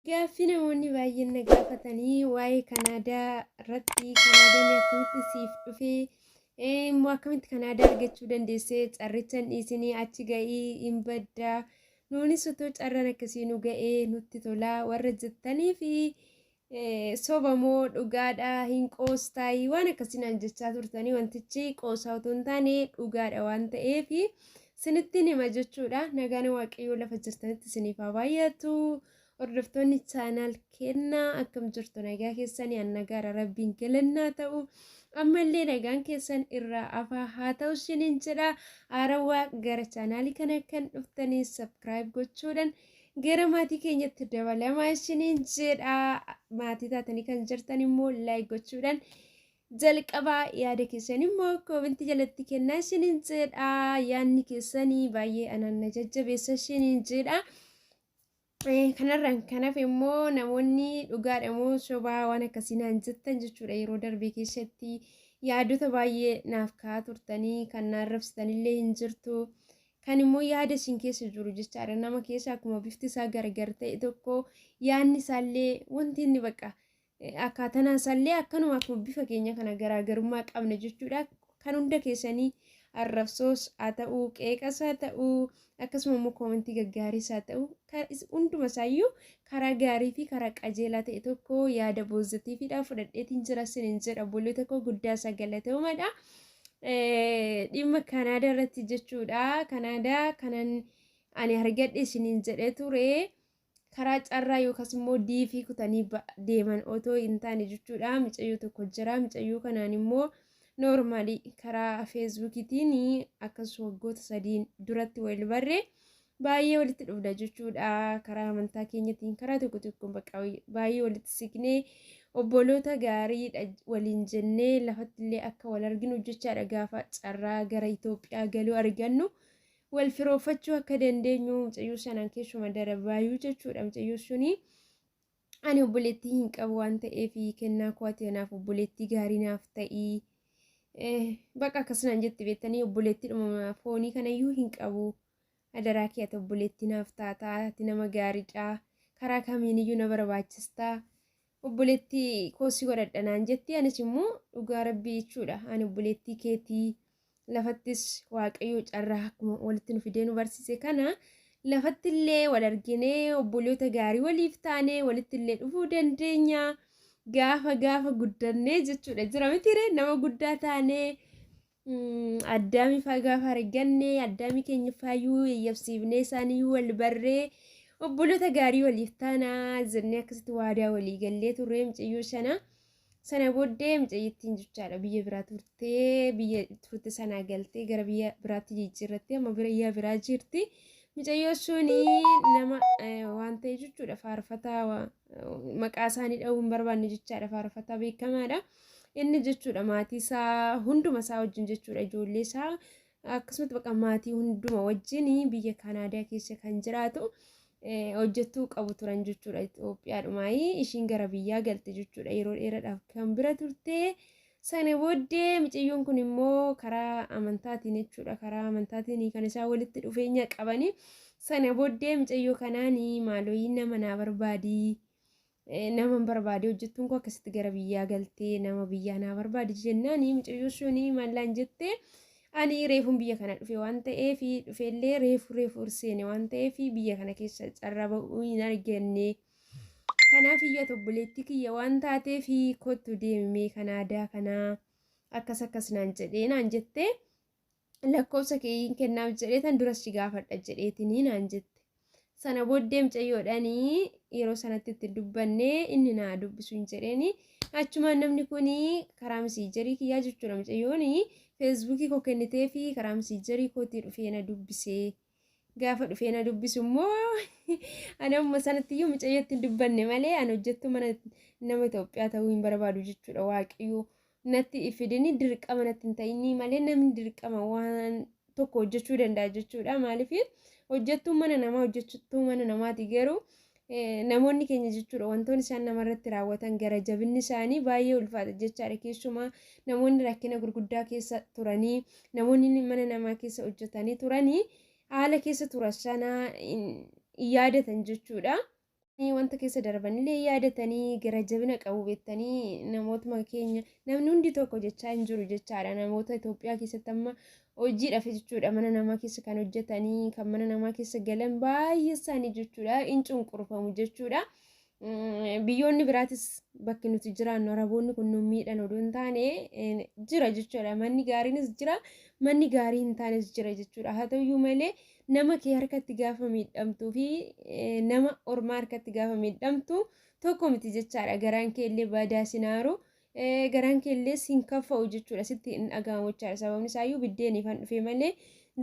Gaaffii namoonni baay'een na gaafatanii waa'ee Kanaadaa irratti Kanaadaan akkamitti siif dhufe immoo akkamitti Kanaadaa argachuu dandeesse carrichan dhiisinii achi ga'ii hin badda nuunis otoo carraan akkasii nu ga'ee nutti tolaa warra jettanii fi soba moo dhugaadha hin qoostaayii waan akkasii naan jechaa turtanii wantichi qoosaa otoo hin taane dhugaadha waan ta'eef Sinittiin hima jechuudha. Nagaan waaqayyoo lafa jirtanitti siniif haa baay'atu. Hordoftoonni chaanaal kennaa akkam jirtu nagaa keessanii an nagaara rabbiin galannaa ta'u. Ammallee nagaan keessan irraa afaa haa ta'u isiniin jedha. Haarawaa gara chaanaalii kana kan dhuftanii sabkiraayib gochuudhaan gara maatii keenyatti dabalamaa isiniin jedha. Maatii taatanii kan jirtan immoo laayik gochuudhaan Jalqabaa yaada keessan immoo koomentii jalatti kennaa isiniin jedha. Yaadni keessanii baay'ee anaan na jajjabeessa isiniin jedha. Kanarraan kanaaf immoo namoonni dhugaadha moo sobaa waan akkasii naan jettan jechuudha yeroo darbe keessatti yaadota baay'ee naaf ka'aa turtanii kan na arrabsitanillee hin jirtu. Kan immoo yaada isin keessa jiru jechaadha nama keessa akkuma bifti isaa gargar ta'e tokko yaadni isaallee wanti inni baqa Akkaatan isaallee akkanuma akkuma bifa keenya kana garaagarummaa qabna jechuudha. Kan hunda keessanii arrabsoos haa ta'u, qeeqas haa ta'u, akkasuma immoo koomentii gaggaariis haa ta'u, hunduma isaayyuu karaa gaarii fi karaa qajeelaa ta'e tokko yaada boozatiifidha fudhadheetiin jira sinin jedha obboloota koo guddaa isaa galatoomadha. Dhimma Kanaadaa irratti jechuudha. Kanaadaa kanan ani argadhe sinin jedhee ture. karaa carraa yookaas immoo diifii kutanii deeman otoo hin taane jechuudha micayyoo tokko jira micayyoo kanaan immoo noormaalii karaa feesbuukiitiin akkas waggoota sadiin duratti wal barre baay'ee walitti dhufna jechuudha karaa amantaa keenyatiin karaa tokko tokkoon bakka baay'ee walitti siqnee obboloota gaariidha waliin jennee lafatti illee akka wal arginu jechaadha gaafa carraa gara Itoophiyaa galuu argannu. wal firoofachuu akka dandeenyu mucayyoo sanaan keessuma darabaayuu jechuudha mucayyoo sunii. ani obboleettii hin qabu waan ta'eef kennaa koo ati anaaf obboleettii gaarii naaf ta'ii baqa akkasumaan jetti beektanii obboleettiidhuma foonii kanayyuu hin qabu adaraa kee ati obboleettii naaf taataa ati nama gaariidha karaa kamiiniyyuu na barbaachistaa obboleetti koo si godhadha naan jetti anis immoo dhugaa rabbii jechuudha ani obboleettii keetii lafattis waaqayyoo carraa akkuma walitti nu fidee nu barsiise kana lafattillee wal arginee obboloota gaarii waliif taanee walittillee dhufuu dandeenya gaafa gaafa guddannee jechuudha jira mitiiree nama guddaa taanee Mm, Addaamii faa gaafa arganne addaamii keenya faayuu yayyabsiifnee isaanii wal barree obboloota gaarii waliif taanaa jennee akkasitti waadaa walii gallee turree mucayyoo shana sana booddee mucayyittiin jechaadha biyya biraa turtee biyya turte sanaa galtee gara biyya biraatti jijjiirrattee amma biyya biraa jirti mucayyoo shuni nama eh, waan ta'e jechuudha faarfataa waa- maqaa isaanii dha'uu hin barbaanne jechaadha faarfataa beekamaadha. Inni jechuudha maatii isaa hunduma isaa wajjin jechuudha ijoollee isaa akkasumatti baqa maatii hunduma wajjin biyya Kaanaadaa keessa kan jiraatu hojjettuu qabu turan jechuudha Itoophiyaadhumaa ishiin gara biyyaa galte jechuudha yeroo dheeraadhaaf kan bira turte Sana booddee miciyyoon kun immoo karaa amantaatiin jechuudha. Karaa amantaatiin kan isaan walitti dhufeenya qabani. Sana booddee micayyoo kanaan maalooyii nama naa barbaadi. Nama hin barbaade hojjettuun koo akkasitti gara biyyaa galtee nama biyyaa naa barbaadi jennaan micayyoo sun maallaan jettee ani reefuun biyya kana dhufe waan ta'eef dhufeellee reefu reefu urseene waan ta'eef biyya kana keessa carraa ba'uu hin arganne. Kanaaf iyyuu ati obboleettii kiyya waan taateef kottu deemimee kan aadaa kanaa akkas akkas naan jedhee naan jettee lakkoofsa keeyiin kennaaf jedhee tan duras si gaafadha jedheetinii naan jette. Sana booddee mucayyoodhaanii yeroo sanatti itti dubbanne inni naa dubbisu hin jedheeni achumaan namni kun karaa misiijarii kiyyaa jechuudha mucayyooni feesbuukii koo kennitee fi karaa misiijarii kootii dhufee na dubbisee Gaafa dhufee na dubbisu immoo ani amma sanatti iyyuu mucayyootti hin dubbanne malee ani hojjettuu mana nama Itoophiyaa ta'uu hin barbaadu jechuudha waaqayyoo natti ifidini dirqama natti hin ta'inii malee namni dirqama waan tokko hojjechuu danda'a jechuudha maaliif hojjettuu mana namaa hojjettuu mana namaati garuu Namoonni keenya jechuudha wantoonni isaan namarratti raawwatan gara jabinni isaanii baay'ee ulfaata jechaadha keessumaa namoonni rakkina gurguddaa keessa turanii namoonni mana namaa keessa hojjetanii turanii haala keessa turan sana hin yaadatan jechuudha. Wanta keessa darbanillee yaadatanii gara jabina qabu beektanii namootuma keenya namni hundi tokko jechaa hin jiru jechaadha namoota Itoophiyaa keessatti amma hojiidhaaf jechuudha mana namaa keessa kan hojjetanii kan mana namaa keessa galan baay'ee isaanii jechuudha in cunqurfamu jechuudha. Biyyoonni biraatis bakki nuti jiraannu araboonni kun nu miidhan oduu hin taane jira jechuudha manni gaariinis jira manni gaarii hin taanes jira jechuudha haa ta'uyyuu malee nama kee harkatti gaafa miidhamtuu fi nama ormaa harkatti gaafa miidhamtu tokko miti jechaadha garaan kee illee badaa sinaaru Eh, garaan kee illee si hin kaffa'u jechuudha sitti hin dhaga'amu jechaadha sababni isaayyuu biddeeniif han dhufe malee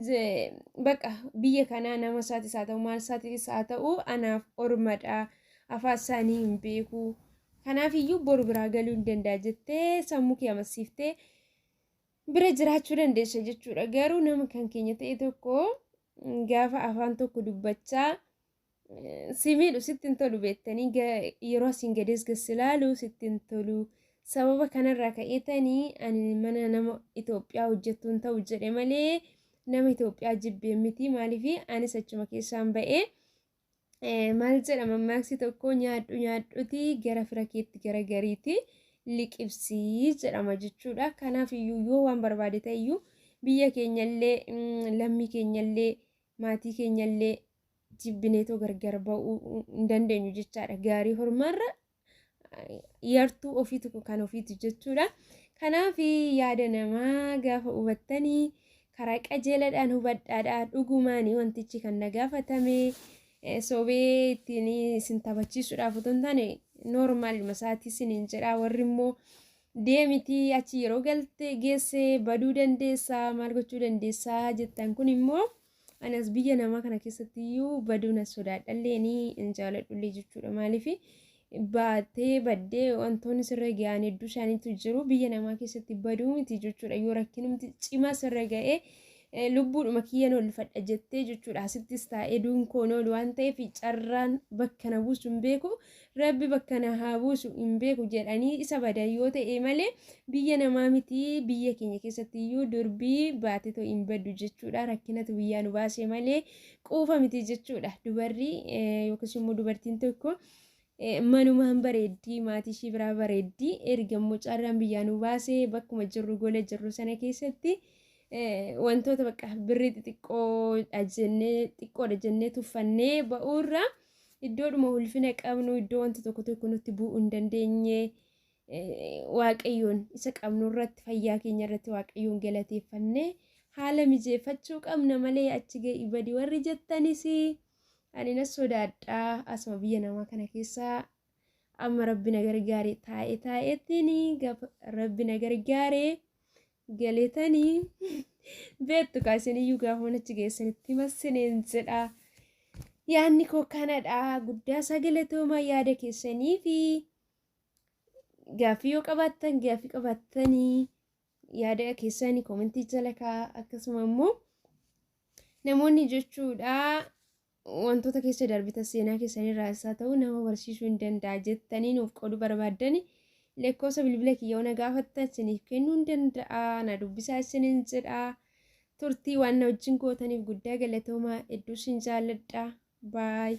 ze- baqa biyya kanaa nama isaatis haa ta'u maal isaatis haa ta'u anaaf ormadha afaan isaanii hin beeku kanaaf iyyuu boru biraa galuu hin danda'a jettee sammuu kee amansiiftee bira jiraachuu dandeessa jechuudha garuu nama kan keenya ta'e tokko mm, gaafa afaan tokko dubbachaa si miidhu sitti hin tolu beektanii yeroo asiin gadees gassi laalu sitti hin tolu. Sababa kanarraa ka'eetanii ani mana nama Itoophiyaa hojjettuun ta'u jedhe malee nama Itoophiyaa jibbee miti maaliif anis achuma keessaan ba'ee. Maal jedha mammaaksi tokko nyaadhu nyaadhuti gara fira keetti gara gariiti liqibsii jedhama jechuudha. Kanaaf iyyuu yoo waan barbaade ta'e iyyuu biyya keenyallee lammii keenyallee maatii keenyallee jibbineetoo gargar ba'uu hin dandeenyu jechaadha. Gaarii hormaarra yartuu ofiitu kan ofiitu jechuudha. Kanaaf yaada namaa gaafa hubattanii karaa qajeeladhaan hubadhaadha. Dhugumaan wantichi kan na gaafatame sobee ittiin isin taphachiisuudhaaf otoo hin taane noormaaluma isaatii isiniin jedha warri immoo deemiti achi yeroo galte geesse baduu dandeessaa maal gochuu dandeessaa jettan kun immoo Ani as biyya namaa kana keessatti iyyuu baduu na sodaadhallee ni hin jaaladhullee jechuudha. Maaliif baatee baddee wantoonni sirra ga'an hedduu isaaniitu jiru. Biyya namaa keessatti baduu miti jechuudha. Yoo rakkinumti cimaa sirra ga'ee eh, lubbuudhuma kiyyan oolfadha jettee jechuudha. Asittis taa'ee duun koo hin oolu waan ta'eef carraan bakka na buusu hin beeku. Rabbi bakka na haa buusu hin beeku jedhanii isa badan yoo ta'e malee biyya namaa miti biyya keenya keessatti iyyuu durbii baatetoo hin baddu jechuudha rakkinatu biyyaa nu baase malee quufa miti jechuudha dubarri yookiis immoo dubartiin tokko manumaan bareeddii maatii ishii biraa bareeddii erga immoo carraan biyyaa nu baase bakkuma jirru gola jirru sana keessatti wantoota bakka birrii xixiqqoodha jennee xiqqoodha jennee tuffannee ba'uurraa Iddoodhuma ulfina qabnu, iddoo wanti tokko tokko nutti bu'uu hin dandeenye, waaqayyoon isa qabnu irratti, fayyaa keenya irratti waaqayyoon galateeffannee haala mijeeffachuu qabna malee achi ga'i badi warri jettanis ani na sodaadha asuma biyya namaa kana keessa Amma rabbi na gargaare taa'e taa'ettini gaafa rabbi na gargaare galetani beektu kaa isiniyyuu gaafuma achi geessanitti massineen jedha. Yaanni koo kanadha guddaa isaa galatoomaa yaada keessanii fi gaaffii yoo qabaattan gaaffii qabaattanii yaada keessaanii koomentii jala kaa'aa akkasuma immoo namoonni jechuudha wantoota keessa darbita seenaa keessanirraa isaa ta'u nama barsiisuu hin danda'a jettanii nuuf qooduu barbaaddani lakkoofsa bilbila kiyya ona gaafatta isiniif kennuu hin danda'a na dubbisaa isiniin jedha turtii waan na wajjin gootaniif guddaa galatoomaa hedduu isin jaalladha baay.